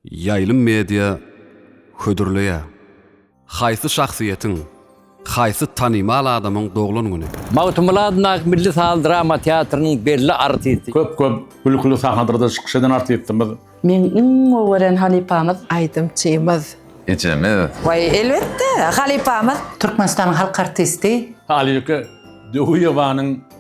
Ýaýlym media hödürleýär. Haýsy şahsyýetiň, haýsy tanymal adamyň doglan güni? Magtymguly adyndaky milli saz-drama teatrynyň belli artisti. Köp köp gülküli sahnadarda çykyş eden artistimiz. Meň iň gowy gören halypamyz. Aýdymçymyz. Ejemiz. Waý elbetde halypamyz. Türkmenistanyň halk artisti. Halýuke Döwüýewanyň.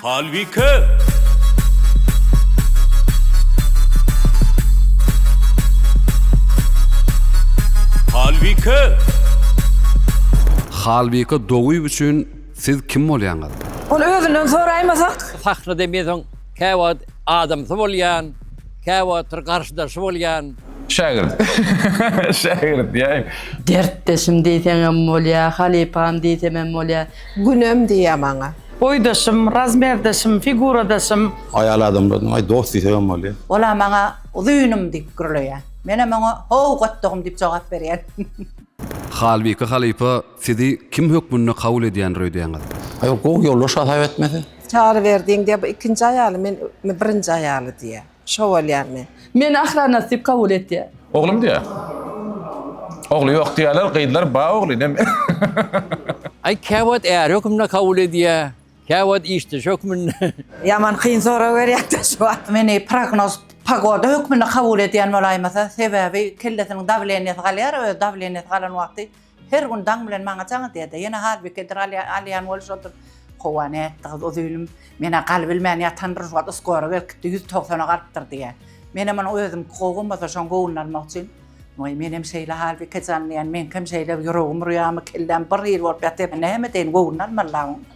Halbike! Halbike! Halbike Doguýew üçin siz kim bolýaňyz? Ol özünden soraýmasak? Sahnada men soň käwagt adamsy bolýan, käwagtlar garşydaşy bolýan. Şägirt. Şägirt diýäýiň. Dertdeşim diýseňem bolýar, halypam diýsemem bolýar. Günem diýýär maňa. Boýdaşym, razmerdaşym, figuradaşym. Aýal adamlarynyň aý dost diýsegem bolýar. Ol-a maňa uzynym diýip gürleýär. Menem oňa how gotdugym diýip jogap berýän. Halbike halypa sizi kim hökmünde kabul edýändir öýdýäňiz? Aý ol gowy ýoldaş hasap etmese. Çary berdiň diýýär, bu ikinji aýaly, men birinji aýaly diýýär. Şo bolýarmy? Meni Ahranas diýip kabul etýär. Oglum diýýär. Ogly ýok diýýärler, gyzlar bar ogly näme? Aý, kä wagt är hökmünde kabul edýär, kä wagt işdeş hökmünde. Ýaman kyn sorag berýäňda şu wagt. Meni prognoz pogoda hökmünde kabul edýän bolaýmasa, sebäbi kellesiniň dawleniýesi galýar, öz dawleniýesi galan wagty Her gün daň bilen maňa jaň edýär-de, ýene halbikedir alýan bolup şoldur. Howa nätdi gyz o zülüm? Men-ä galybilmän ýatan bir wagt uskora berkitdi, ýüz togsana galypdyr diýýä. Menem ony özümki gowy bolmasa şoň göwnüni almak üçin, Waý, menem şeýle halbike jan diýýän, meňkem şeýle ýüregim urýarmy, kelläm bir hili bolup ýatyr, näme edeýin, göwnüni almaly-la oň.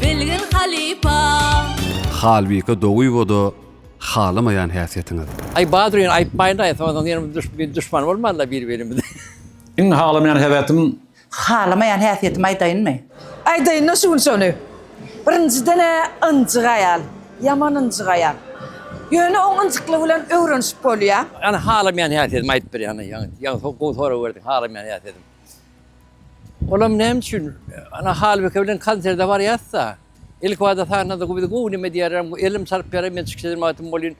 bilgin halypa. Halbike dogyboda halamaýan häsiýetiňiz. Aý Badryn aýytmaýyndaý soňadan ýene biz duşman bolmalyda bir birimize. Iň halamaýan häsiýetim. Halamaýan häsiýetimi aýdaýynmy. Aýdaýynda şu gün şony. Birinjidenä ynjyk aýal. Ýaman ynjyk aýal. Ýöne oň ynjyklygy bilen öwrenişip bolýa. Ýani halamaýan häsiýetimi aýdyp berýäňda ýaňy ýaňy gowy sorag berdiň halamaýan häsiýetim. Olam näme üçin ana Halbike bilen konserde barýasda, ilkibada sahnada bu bizi gowy neme diýerem, elim çarp ýaram men çykyş eden wagtym bolýyn.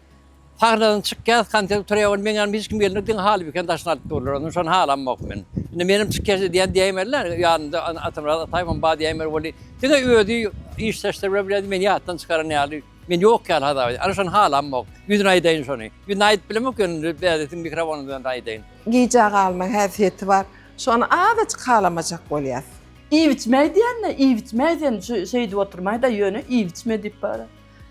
Sahnadan çykýas, konsert gutarýar welin meň ýanyma hiç kim gelmedi, diňe Halbikeni daşyna alyp durlar. Onda şony halamok men. Indi menem çykýas edýän diýäýmeli-le, ýanynda Atamyrat Ataýewem bar diýäýmeli welin, diňe özi iş-saçlar bilen bilendi, meni ýatdan çykaran ýaly. Men ýok ýaly hasap edýän. Alşan halamok. Ýüzüne aýdaýyn şony. Ýüzüne aýdyp bilemok ýöne indi bädisiň mikrofonyň öňünde aýdaýyn. Gijä galma häsiýeti bar. Şony azajyk halamajak bolýas. Iýip-içmäý diýende, iýip-içmäý sen şeýdip oturmaý-da, ýöne iýip-içme diýip bar.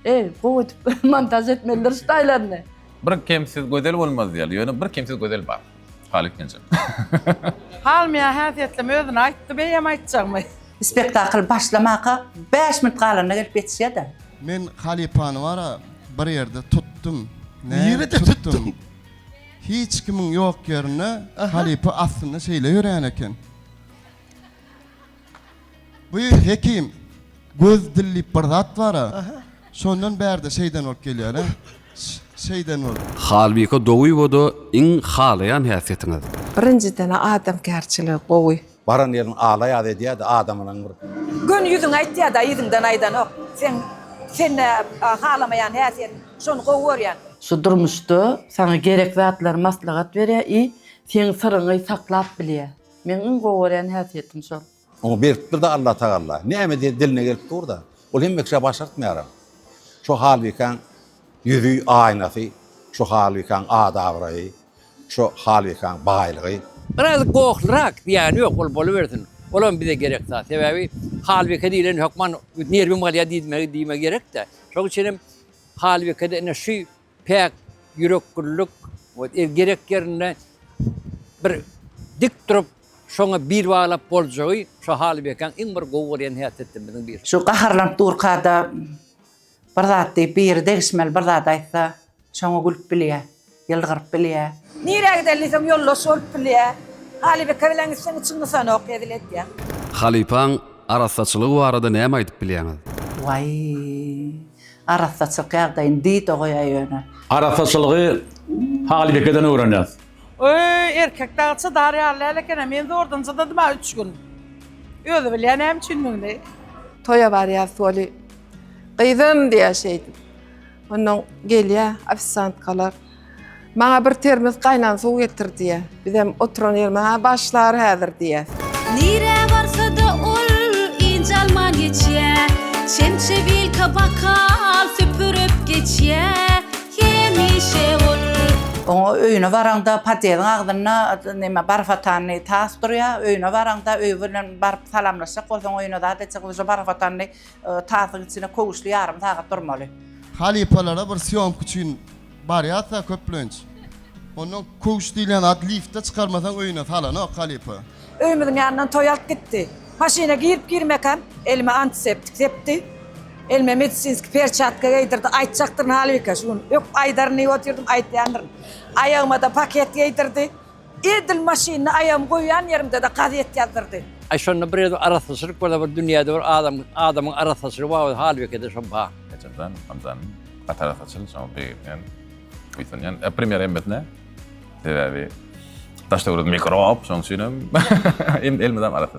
Eý, gowy edip montaž etmelidir şu taýlaryny. Bir kemsiz gözel bolmaz diýýärler, ýöne bir kemsiz gözel bar. Halyk Genjem. Halmya häsiýetlem özüni aýtdy beýem aýtjagmy. Spektakl başlamaka bäş minut galanda gelip ýetişýäda. Men halypany bara bir ýerde tutdum. Nirede tutdyň? Hiç kimiň ýok ýerinde halypa astynda şeýle ýörän eken. Bu hekim göz dil diýip bir zat bara şondan bärde şeýden bolup gelýäle şeýden bolup. Halbike Dowyýewa-da iň halaýan häsiýetiňiz. Birinjiden adamkärçiligi gowy. Baran ýeriň alaýaz edýädi adamynyň bir. Göni ýüzüň aýtýada yzyňdan aýdanok seň sende halamaýan häsiýet şony gowy görýän. Şu durmuşda saňa gerek zatlary maslahat berýä i seň syryňy saklap bilýä. Meň iň gowy görýän häsiýetim şol. Oňa beripdir-de Alla tagalla. Näme diýen diline gelip dur-da. Ol hemme kişä başartmaýaram. Şo halbikaň ýüzi, aýnasy, şo halbikaň at-abraýy, şo halbikaň baýlygy. Biraz gohlyrak diýýäni ýok, ol bolubersin. Olam bize gerek zat. Sebäbi halbike diýlen hökman nerwim galýar diýmegi gerek-dä. Şoň üçinem halbikede ine şu. Päk ýürekgüllik we gerek ýerinde bir dik durup, şoňa bil baglap boljagy şu Halybekäň iň bir gowy görýän häsiýetlerimiziň biri. Şu gaharlanyp durka-da bir zat diýip, biri degişmeli bir zat aýtsa, şoňa gülüp bilýä, ýylgyryp bilýä. Nirä gider diýseň, ýoldaş bolup bilýä. Halybeke bilen gitseň, içiň gysanok, hezil edýäň. Halypaň arassaçylygy barada näme aýdyp bilýäňiz? Waý, Arassaçylyk ýagdaýyny diýdo goýaý ýöne. Arassaçylygy Halybekeden öwrenýäs. Öý, erkek dagy çydar ýaly däl eken-ä. Men zordan çydadym-a üç gün. Özi bilýä näme üçindigini. Toýa barýas weli, gyzym diýýä şeýdip. Onnoň gelýä ofisiantkalar. Maňa bir termiz gaýnan suw getir diýýär. Bizem oturan ýerimizde-ha başlar häzir diýýäs. Nirä barsa-da ol ynjalman geçýä, Çemçe, wilka, bokal süpürip geçýä. Hemişe ol. Oňa öýüne baraňda podýeziň agzynda näme barfotanly tas durýa. Öýüne baraňda öý bilen baryp salamlaşjak bolsaň öýüne zat etjek bolsaň barfotanly tasyň içinde köwüşli ýarym sagat durmaly. Halypalara bir sýomka üçin Barýarsa köplenç. Ondan köwş diýlen at liftde çykarmasaň öýüne salanok halypa. Öýümiziň ýanyndan toý alyp gitdi. Maşyna girip-girmekäm elime antiseptik sepdi. Elime medisinskiý perçatka geýdirdi. Aýtjakdyryn halbuki şu gün. Öp aýdaryn diýip otyrdym, aýtýandyryn. Aýagyma-da paket geýdirdi. Edil maşynyny aýagym goýýan ýerimde-de gazet ýazdyrdy. Aý şonda bir özüm arassaçylyk bolsa bir dünýäde bir adam adamyň arassaçylygy bar bolsa halbekede şo bar. Ejemjan amjam gaty arassaçyl şoňa begenýän buýsanýan e premýer hemmesine sebäbi daş döwlet mikrob şoň üçinem elmydam arassa.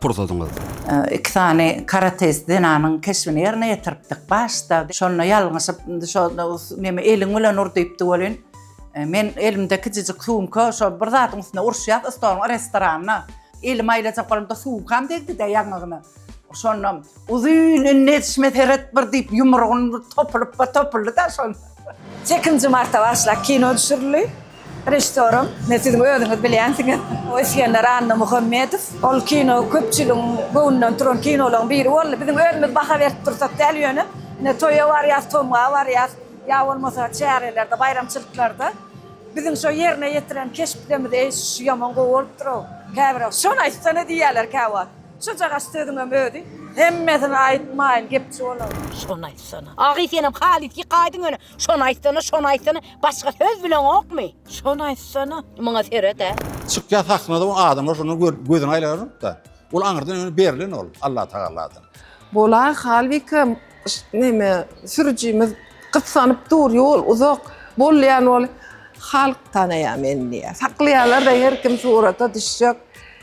pursadyňyzdyr. Iki sany karateist zenanyň keşbini ýerine ýetiripdik. Başda şonda ýalňyşyp, şo neme eliň bilen ur diýipdi welin, men elimde kiçijik sumka, şo bir zadyň üstünde uruşýas, stoluň restoranyna. Elimi aýlajak bolamda sumkam degdi-de ýaňagyna. Şonda uzyn indi edişime seret bir diýip, ýumrugyny topulyp bir topuldy-da şonda. Sekizinji marta başlak kino düşürildi. Režissýorym, ine, siziň özüňiz bilýänsiňiz, Isgender Annamuhammedow. Ol kino köpçüligiň göwnünden turan kinolaryň biri boldy. Biziň özümiz baha berip dursak däl, ýöne, ine, toýa barýas, tomga barýas, ýa bolmasa çärelerde, baýramçylyklarda biziň şo ýerine ýetiren keşpdemiz, eý, şu ýaman gowy bolupdyr-ow, käbir, şony aýtsana diýýärler käwagt. Şujagaz sözüňem özi hemmesini aýtmaýyn gepçi bolaň. Şony aýtsana. Agy senem halys ýykaýdyň ýöne şony aýtsana şony aýtsana başga söz bileňokmy. Şony aýtsana. Muňa seredä. Çykýa sahnada o adamlar şonda gözüni aýlarypda. Ol aňyrdan öňe berlen ol Allatagaladan. Bola Halbike neme sürüjimiz gyssanyp dur ýol uzak bolýan ol halk tanaýa meni diýýä saklaýalar-da her kim surata düşjek.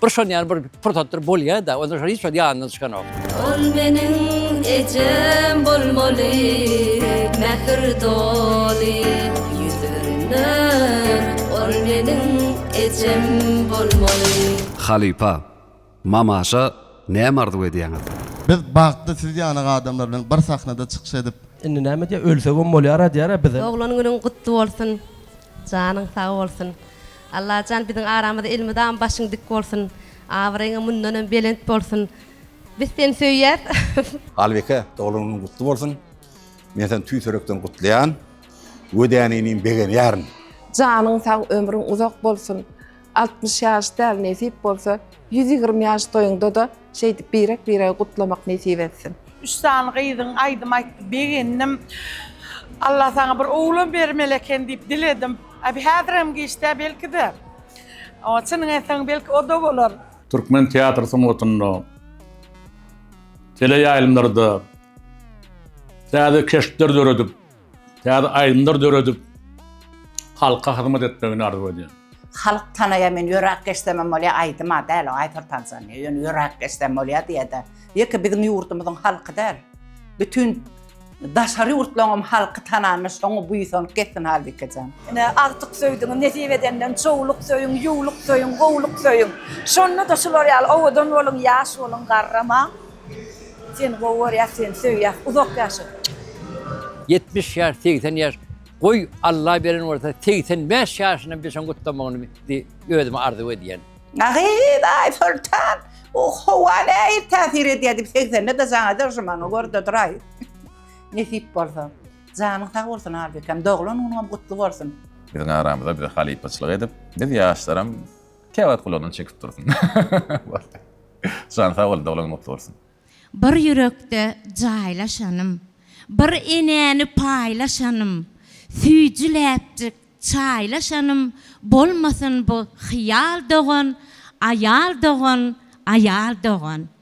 Bir şon ýaly bir pursatdyr bolýa-da, onda şol hiç wagt ýanyndan çykanok. Ol meniň ejem bolmaly, mähir doly ýüzünden, ol meniň ejem bolmaly. Halypa, Mamaşa näme arzuw edýäňiz? Biz bagtly siz ýaly adamlar bilen bir sahnada çykyş edip. Indi näme diýýär, ölsegem bolýar-a diýýär-ä bizem. Doglan günüň gutly bolsun, janyň sag bolsun. Allajan biziň aramyza elmydama başyň dik bolsun abraýyňa mundanam belent bolsun biz seni söýýäs. Halbeke doglan günüň gutly bolsun men seni tüýs ýürekden gutlaýan we däne inim begenýärin. Janyň sag ömrüň uzak bolsun altmyş ýaş däl nesip bolsa ýüz ýigrimi ýaş toýuňdada Şeýdip birek biregi gutlamak nesip etsin. Üç sany gyzyň aýdym aýtdy begendim. Allah saňa bir oglan bermeli eken diýip diledim. Abi häzirem giçdä belkide. Oňa çynyň etseň belki oda bolar. Türkmen teatr sungatynda, teleýaýlymlarda täze keşpler döredip, Täze aýdymlar döredip halka hyzmat etmegini arzuw edýän. Halk tanaýa men ýöräp geçsemem bolýa aýdyma däl o aýfer tanzaniýa ýöne ýöräp geçsem bolýa diýede ýeke biziň ýurdumyzyň halky däl bütin daşary ýurtlaňam halky tananda şoňa buýsanyp geçsin halbikejan. Ine agtyk söýdüňiz nesip edenden çowluk söýüň ýuwluk söýüň gowluk söýüň şonda-da şular ýaly owadan boluň ýaş boluň garramaň. Seni gowy görýäs seni söýýäs uzak ýaşa. Ýetmiş ýaş segsen ýaş goý Alla beren bolsa segsen bäş ýaşyna bişiň gutlamagyny di özüme arzuw edýän. Nahidaý Soltan bu howa nähili täsir edýär diýip segsende-de jaň eder şu maňa görde duraý nesip bolsa. Janyň sag bolsun Albekem doglan günüňem gutly bolsun. Biziň aramyza bize halypaçylyk edip biz ýaşlaram. Käwagt gulagyny çekip dursun. Boldy. Jan sag bol doglan gutly bolsun. Bir ýürekde jaýlaşanym, Bir enäni paýlaşanym, Süýji läpjik çaýlaşanym Bolmasyn bu hyýal dogan, Aýal dogan, aýal dogan.